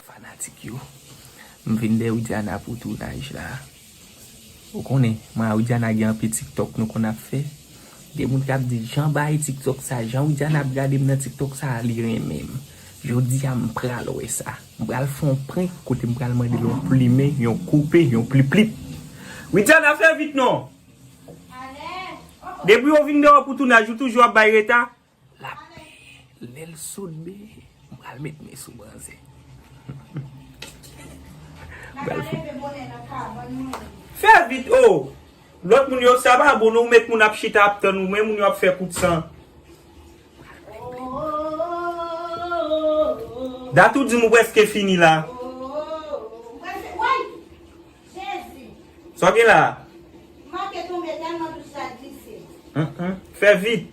Fanatik yo, m vin dèyè Widiana pou tounaj la. Ou konnen, mwen a Widiana gen anpe tiktok nou konn ap fè. Gen moun kap di jan bae tiktok sa jan widiana ap gadem nan tiktok sa li renmenm jodia m pral wè sa m pral fè yon prank kote m pral mandel yon plumen yon koupe yon pliplip widiana fè vit non depiw vin deyo pou tounaj ou toujou ap bay reta Lap peye lel soudbe m pral met men sou manzè. Pral fout. Fè vit oo. Lot moun yo sa pa bon non ou met moun ap chita ap tann ou men moun yo ap fè kout san. Dat ou dim ou preske fini la. Sa w gen la? Fè vit.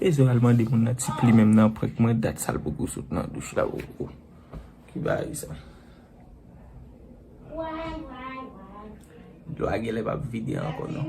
E zo al mande moun nan ti pli menm nan prank mwen dat sal poko sot nan douch la poko. Ki baay sa. Dlo a genlè pap vide ankò non.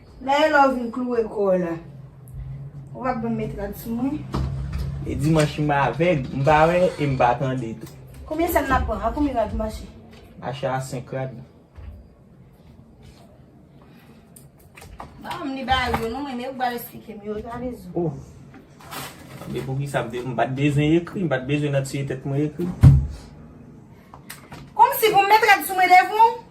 Lè e lè ou vin klouwe kò w la. Ou pa bèm met rad sou mwen. E dimanche m avèg, m pa wè e m pa tande tou. Konbyen sèn nap pran? A konbyen rad mache? Mache a 5 rad. Banm li ba yo non, mwen e ou bal esplike m yo. Gade zo. O! Mande pou kisa m te, m pat bezwen ekri, m pat bezwen nan tiye tèt mwen ekri. Konmsi pou m met rad sou mwen devan ou?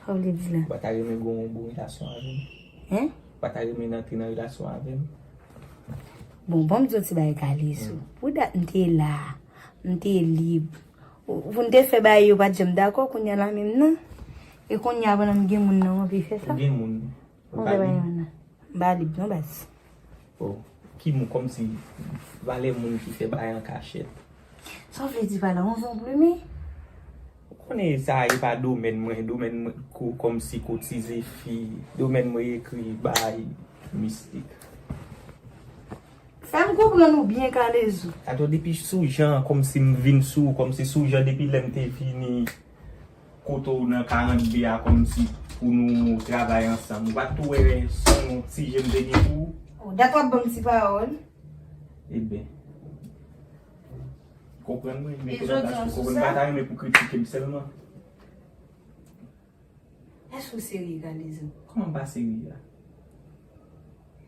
Sa w vle di la? Ou pa ta renmen gen yon bon relasyon avè m? Hein? Ou pa ta renmen antre nan relasyon avè m? Bon, ban m di w yon ti bagay Kalezo. Pou dat m te la, m te lib. Pou n te fè bagay yo pa t janm dakò, kounye a la menm nan? E kounye a pandan m gen moun nan w anvi fè sa? Ou gen moun? Ou vle bay moun nan? M ba li non baz. Oh ki moun kòmsi valè moun ki fè bagay an kachèt. Sa w vle di pa la on van plume? Ou konnen sa e pa domèn mwen, domèn mwen ko kòmsi kotize fi, domèn mwen ekri bagay mistik. Fè m konprann ou byen Kalezo. Atò depi sou jan kòmsi m vin sou kòmsi sou jan depi lè m te vini kote w nan 42 a kòmsi pou nou travay ansanm. Ou pa t tou wè s on ti je m te gen pou ou? Ou dat w ap ban m ti pawòl. Eben. Konprann mwen, mete nan plas pou konprann. M pa ta renmen pou kritike m sèlman. Èske ou serye, Kalezo? Kòman m pa serye a?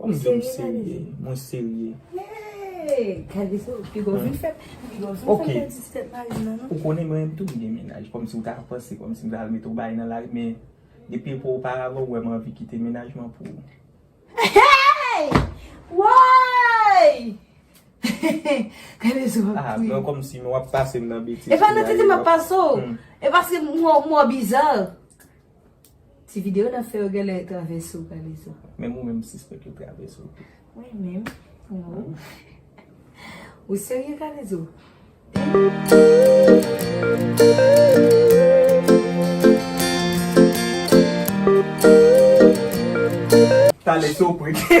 Ou di m serye, mwen serye. Ok, ou konnen mwen menm tou m gen menaj, kòm si ou ta panse kòm si m ta al mete w baye nan lari men, depi pou ou paravan ou wè m anvi kite menaj mwen pou ou. Hey! Woy! Gade sou wap tou ye. Mwen kòm si m wap pase m nan betiz. E pa nan tete m ap pase w, e paske m wè w bizar. Ti video nap fè yo genlè e travè sou kalezo. Menm ou menm ou sispèk yo travè sou tou. Mwen menm ou. Ou serye kalezo? Talè se w prete.